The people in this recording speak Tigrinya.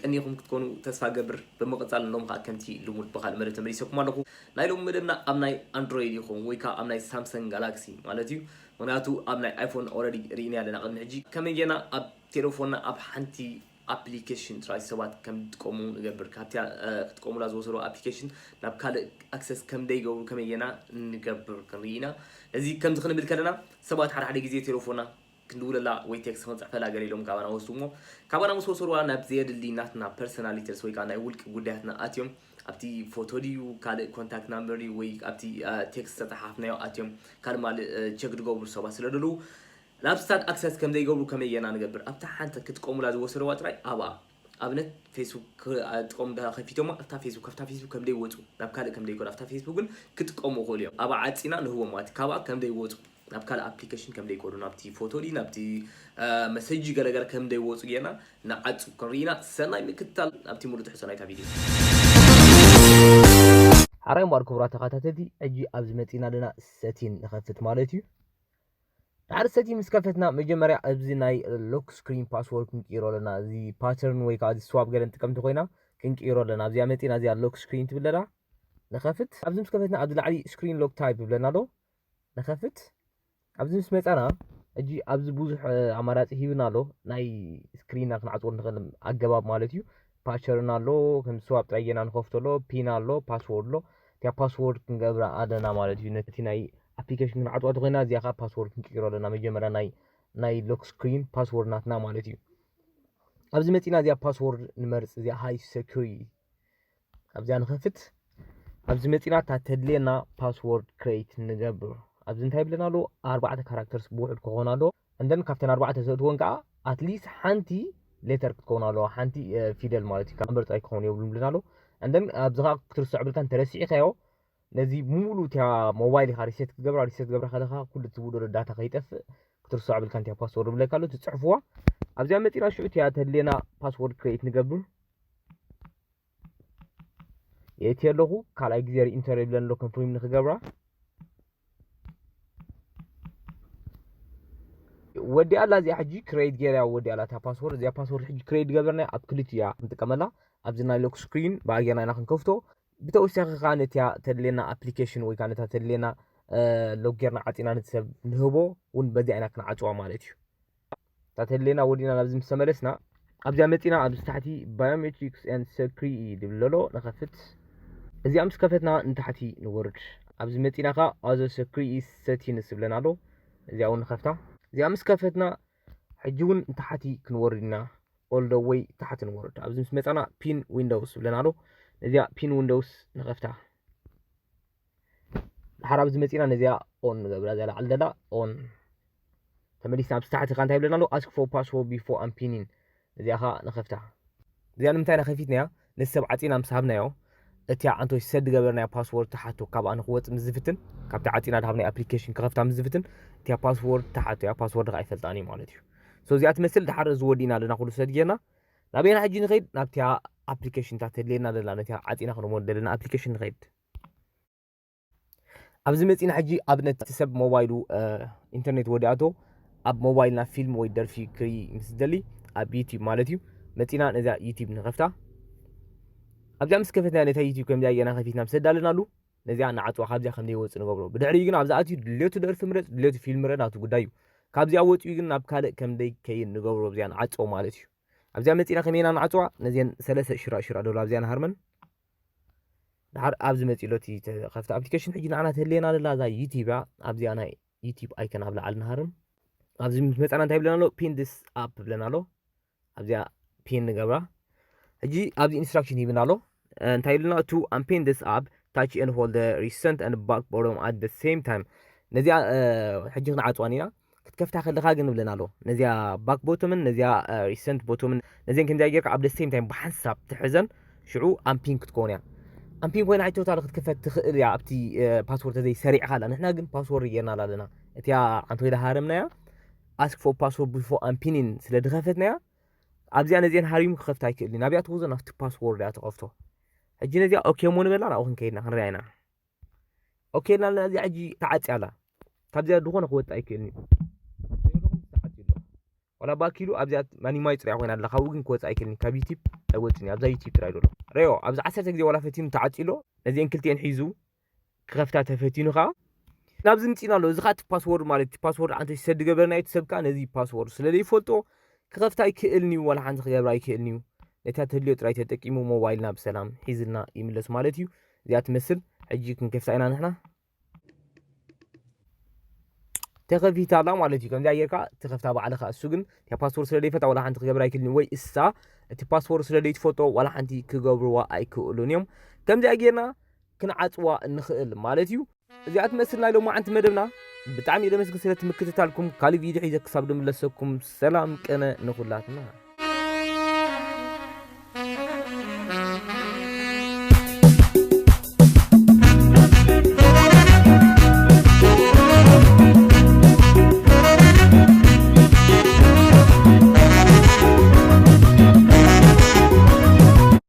ቀኒኹም ክትኮኑ ተስፋ ገብር ብምቕፃል ሎም ከዓ ከምቲ ልሙድ ብካል መደብ ተመሊሰኩም ኣለኹ ናይ ሎም መደብና ኣብ ናይ ኣንድሮይድ ይኹን ወይ ከዓ ኣብ ናይ ሳምሰንግ ጋላክሲ ማለት እዩ ምክንያቱ ኣብ ናይ ኣይፎን ኦረዲ ርኢና ኣለና ቅድሚ ሕጂ ከመይ ጌና ኣብ ቴሌፎንና ኣብ ሓንቲ ኣፕሊከሽን ጥራይ ሰባት ከምድጥቀሙ ንገብር ካብቲ ክጥቀሙላ ዝወሰድዋ ኣፕሊከሽን ናብ ካልእ ኣክሰስ ከምደይገብሩ ከመይ ጌና ንገብር ክንርኢ ኢና ነዚ ከምዚ ክንብል ከለና ሰባት ሓደ ሓደ ግዜ ቴለፎና ክንድውለላ ወይ ቴክስ ክንጽሕፈላ ገለ ኢሎም ካባና ወስድዎ ካባና ምስ ወሰድዋ ናብ ዘየድሊ ናትና ፐርሰናል ዲቴልስ ወይ ከዓ ናይ ውልቂ ጉዳያትና ኣትዮም ኣብቲ ፎቶ ድዩ ካልእ ኮንታክት ናምበር ድዩ ወይ ኣብቲ ቴክስ ዝተጸሓፍናዮ ኣትዮም ካልእ ማልእ ቸክ ድገብሩ ሰባት ስለ ደለዉ ናብ ስታክ ኣክሰስ ከምዘይገብሩ ከመይ ጌርና ንገብር ኣብታ ሓንቲ ክጥቀሙላ ዝወሰድዋ ጥራይ ኣብኣ ኣብነት ፌስቡክ ክጥቀሙ እንተ ከፊቶማ ኣብታ ፌስቡክ ኣብታ ፌስቡክ ከምደይ ወጹ ናብ ካልእ ከምደይ ከዱ ኣብታ ፌስቡክ ግን ክጥቀሙ ይኽእሉ እዮም ኣብኣ ዓጺና ንህቦም ማለት ካብኣ ከምደይ ወጹ ናብ ካልእ ኣፕሊከሽን ከምደይ ከዱ ናብቲ ፎቶ ድዩ ናብቲ መሰጅ ድዩ ገለ ገለ ከምደይ ወጹ ጌርና ንዓጹ ክንርኢና ሰናይ ምክትታል ናብቲ ሙሉእ ትሕዝቶ ናይታ ቪድዮ ሓራይ እምበኣር ክቡራት ተኸታተልቲ ሕጂ ኣብዚ መጺእና ኣለና ሰቲን ንኸፍት ማለት እዩ ድሓር ሰቲ ምስ ከፈትና መጀመርያ ኣብዚ ናይ ሎክ ስክሪን ፓስወርድ ክንቅይሮ ኣለና እዚ ፓተርን ወይ ከዓ እዚ ስዋፕ ገለ ንጥቀም እንተኮይና ክንቅይሮ ኣለና ኣብዚኣ መፂና እዚኣ ሎክ ስክሪን ትብል ለላ ንኸፍት ኣብዚ ምስ ከፈትና ኣብዚ ላዕሊ ስክሪን ሎክ ታይፕ ይብለና ኣሎ ንኸፍት ኣብዚ ምስ መፃና እጂ ኣብዚ ብዙሕ ኣማራፂ ሂብና ኣሎ ናይ ስክሪንና ክንዓፅወሉ ንኽእል ኣገባብ ማለት እዩ ፓቸርን ኣሎ ከም ስዋብ ጥራይ ጌና ንኸፍቶ ኣሎ ፒን ኣሎ ፓስዎርድ ኣሎ እቲያ ፓስዎርድ ክንገብራ ኣለና ማለት እዩ ነቲ ናይ ኣፕሊኬሽን ክንዓፅዋ ተኮይና እዚኣ ከዓ ፓስዎርድ ክንቅይሮ ኣለና መጀመርያ ናይ ናይ ሎክ ስክሪን ፓስዎርድ ናትና ማለት እዩ ኣብዚ መፂና እዚኣ ፓስዎርድ ንመርፅ እዚኣ ሃይ ሰኪሪ ኣብዚኣ ንኸፍት ኣብዚ መፂና እታ ተድልየና ፓስዎርድ ክሬት ንገብር ኣብዚ እንታይ ይብለና ኣሎ ኣርባዕተ ካራክተርስ ብውሕድ ክኾን ኣሎ and then ካብተን ኣርባዕተ ዘእትወን ከዓ ኣትሊስት ሓንቲ ሌተር ክትከውን ኣለዋ ሓንቲ ፊደል ማለት እዩ ካብ ምርፅ ኣይክኸውን የብሉ ብልና ኣሎ and then ኣብዚ ከዓ ክትርሶ ዕብልካን ተረሲዕካዮ ነዚ ሙሉ እቲያ ሞባይል ኢኻ ሪሴት ክገብራ ሪሴት ገብራ ከለካ ኩሉ ትውድሮ ዳታ ከይጠፍእ ክትርሶ ዕብልካ እንቲያ ፓስወርድ ብለካ ኣሎ ትፅሕፍዋ ኣብዚኣ መፂና ሽዑ እቲያ ተድልየና ፓስወርድ ክሬት ንገብር የእቲ ኣለኹ ካልኣይ ግዜ ሪኢንተር የብለን ኣሎ ኮንፍርም ንክገብራ ወዲ ኣላ እዚኣ ሕጂ ክሬት ገይርያ ወዲ ኣላ እታ ፓስወርድ እዚኣ ፓስወርድ ሕጂ ክሬት ገበርና ኣብ ክልት እያ ክንጥቀመላ ኣብዚ ናይ ሎክ ስክሪን ብኣየና ኢና ክንከፍቶ ብተወሳኺ ከዓ ነቲያ ተድልየና ኣፕሊኬሽን ወይ ከዓ ነታ ተድልየና ሎክ ጌርና ዓፂና ነቲ ሰብ ንህቦ እውን በዚኣ ኢና ክንዓፅዋ ማለት እዩ ታት ህሌና ወዲእና ናብዚ ምስ ተመለስና ኣብዚኣ መፂና ኣብዚ ታሕቲ ባዮሜትሪክስ ን ሰክሪ እዩ ድብል ለሎ ንኸፍት እዚኣ ምስ ከፈትና ንታሕቲ ንወርድ ኣብዚ መፂና ከ ኣዘ ሰክሪ ሰቲንስ ዝብለና ኣሎ እዚኣ እውን ንኸፍታ እዚኣ ምስ ከፈትና ሕጂ እውን ንታሕቲ ክንወርድ ኢና ኦል ደ ወይ ታሕቲ ንወርድ ኣብዚ ምስ መፃና ፒን ዊንዶውስ ዝብለና ኣሎ እዚኣ ፒን ዊንዶውስ ንኸፍታ ድሓር ኣብዚ መጺና ነዚኣ ኦን ንገብራ እዚኣ ላዕሊ ዘላ ኦን ተመሊስና ኣብዚ ታሕቲ ከ እንታይ ይብለና ኣሎ ኣስክ ፎር ፓስዎርድ ቢፎ ኣን ፒኒን እዚኣ ከ ንኸፍታ እዚኣ ንምንታይ ኢና ከፊትናያ ነቲ ሰብ ዓጺና ምስ ሃብናዮ እቲ ኣንቶ ሰድ ገበርናያ ፓስዎርድ ተሓቶ ካብኣ ንክወጽእ ምስ ዝፍትን ካብቲ ዓጺና ድሃብናይ ኣፕሊኬሽን ክኸፍታ ምስ ዝፍትን እቲያ ፓስዎርድ ተሓቶ እያ ፓስዎርድ ከ ኣይፈልጣን እዩ ማለት እዩ ሶ እዚኣ ትመስል ድሓር እዚ ወዲእና ኣለና ኩሉ ሰድ ጌርና ናበይና ሕጂ ንኸይድ ናብቲያ ኣፕሊኬሽን እታ ተድልየና ዘላ ነቲያ ዓጺና ክንሞ ዘለና ኣፕሊኬሽን ንኸይድ ኣብዚ መፂና ሕጂ ኣብነት እቲ ሰብ ሞባይሉ ኢንተርኔት ወዲኣቶ ኣብ ሞባይልና ፊልም ወይ ደርፊ ክርኢ ምስ ዝደሊ ኣብ ዩቲብ ማለት እዩ መፂና ነዛ ዩቲብ ንኸፍታ ኣብዚኣ ምስ ከፈትና ነታ ዩቲብ ከምዚኣ የና ከፊትና ምስ ኣዳለናሉ ነዚኣ ንዓፅዋ ካብዚኣ ከም ዘይወፅእ ንገብሮ ብድሕሪኡ ግን ኣብዛ ኣትዩ ድሌቱ ደርፊ ምረፅ ድሌቱ ፊልም ምረ ናቱ ጉዳይ እዩ ካብዚኣ ወፂኡ ግን ናብ ካልእ ከም ዘይከይን ንገብሮ ኣብዚኣ ንዓፅዎ ማለት እዩ ኣብዚኣ መፂና ከመይና ንዓፅዋ ነዚን ሰለስተ ሽራ ሽራ ደሎ ኣብዚኣ ንሃርመን ድሓር ኣብዚ መጺሎ እቲ ተኸፍተ ኣፕሊኬሽን ሕጂ ንዓና ትህልየና ዘላ እዛ ዩቲብ እያ ኣብዚኣ ናይ ዩቲብ ኣይከን ኣብ ላዕሊ ንሃርም ኣብዚ ምስ መጻና እንታይ ብለና ኣሎ ፒን ድስ ኣፕ ብለና ኣሎ ኣብዚኣ ፒን ንገብራ ሕጂ ኣብዚ ኢንስትራክሽን ይብና ኣሎ እንታይ ኢሉና ቱ ኣምፔን ድስ ኣፕ ታች ኤን ሆልድ ሪሰንት ኣን ባክ ቦሮም ኣት ደ ሴም ታይም ነዚኣ ሕጂ ክንዓፅዋን ኢና ክትከፍታ ከለኻ ግን ብለን ኣሎ ነዚኣ ባክ ቦቶምን ነዚኣ ሪሰንት ቦቶምን ነዚን ከምዚኣ ጌርካ ኣብ ደሴም ታይም ብሓንሳብ ትሕዘን ሽዑ ኣምፒን ክትከውን እያ ኣምፒን ኮይና ቶታል ክትክፈት ትኽእል እያ ኣብቲ ፓስወርድ ተዘይ ሰሪዕኻ ኣላ ንሕና ግን ፓስወርድ ጌርና ኣለና እቲኣ ዓንተ ኮይዳ ሃረምናያ ኣስክ ፎ ፓስወርድ ቢፎ ኣምፒኒን ስለ ድኸፈትናያ ኣብዚኣ ነዚአን ሃሪሙ ክኸፍት ኣይክእልን ናብያ ትወዞ ናብቲ ፓስወርድ እያ ትኸፍቶ ሕጂ ነዚኣ ኦኬ ሞ ንበላ ናብኡ ክንከይድና ክንሪኣ ኢና ኦኬ ናልና እዚኣ ሕጂ ተዓፅያ ኣላ ካብዚኣ ዝኾነ ክወፅእ ኣይክእልን እዩ ዋላ ባኪሉ ኣብዚኣ ማኒማይ ፅሪያ ኮይና ኣላ ካብኡ ግን ክወፅእ ኣይክእልን ካብ ዩቲብ ኣይወፅን እዩ ኣብዛ ዩቲብ ጥራይ ዘሎ ረዮ ኣብዚ ዓሰርተ ግዜ ዋላ ፈቲኑ ተዓፂሎ ነዚአን ክልቲኤን ሒዙ ክኸፍታ ተፈቲኑ ከዓ ናብዚ ምፂና ኣሎ እዚ ከዓ እቲ ፓስወርድ ማለት እቲ ፓስወርድ ዓንተ ሰድ ገበርና እዩ ሰብ ከዓ ነዚ ፓስወርድ ስለዘይፈልጦ ክኸፍታ ኣይክእልን እዩ ዋላ ሓንቲ ክገብር ኣይክእልን እዩ ነታ ተድልዮ ጥራይ ተጠቂሙ ሞባይልና ብሰላም ሒዝልና ይምለስ ማለት እዩ እዚኣ ትመስል ሕጂ ክንከፍታ ኢና ንሕና ተኸፊታ ኣላ ማለት እዩ ከምዚኣ ጌርካ ትኸፍታ ባዕልኻ እሱ ግን እታ ፓስፖርት ስለ ዘይፈልጣ ዋላ ሓንቲ ክገብር ኣይክእልን ወይ እሳ እቲ ፓስፖርት ስለ ዘይትፈልጦ ዋላ ሓንቲ ክገብርዋ ኣይክእሉን እዮም ከምዚኣ ጌርና ክንዓፅዋ ንኽእል ማለት እዩ እዚኣ ትመስል ናይ ሎማዓንቲ መደብና ብጣዕሚ እየ ደመስግን ስለቲ ምክትታልኩም ካልእ ቪድዮ ሒዘ ክሳብ ድምለሰኩም ሰላም ቅነ ንኹላትና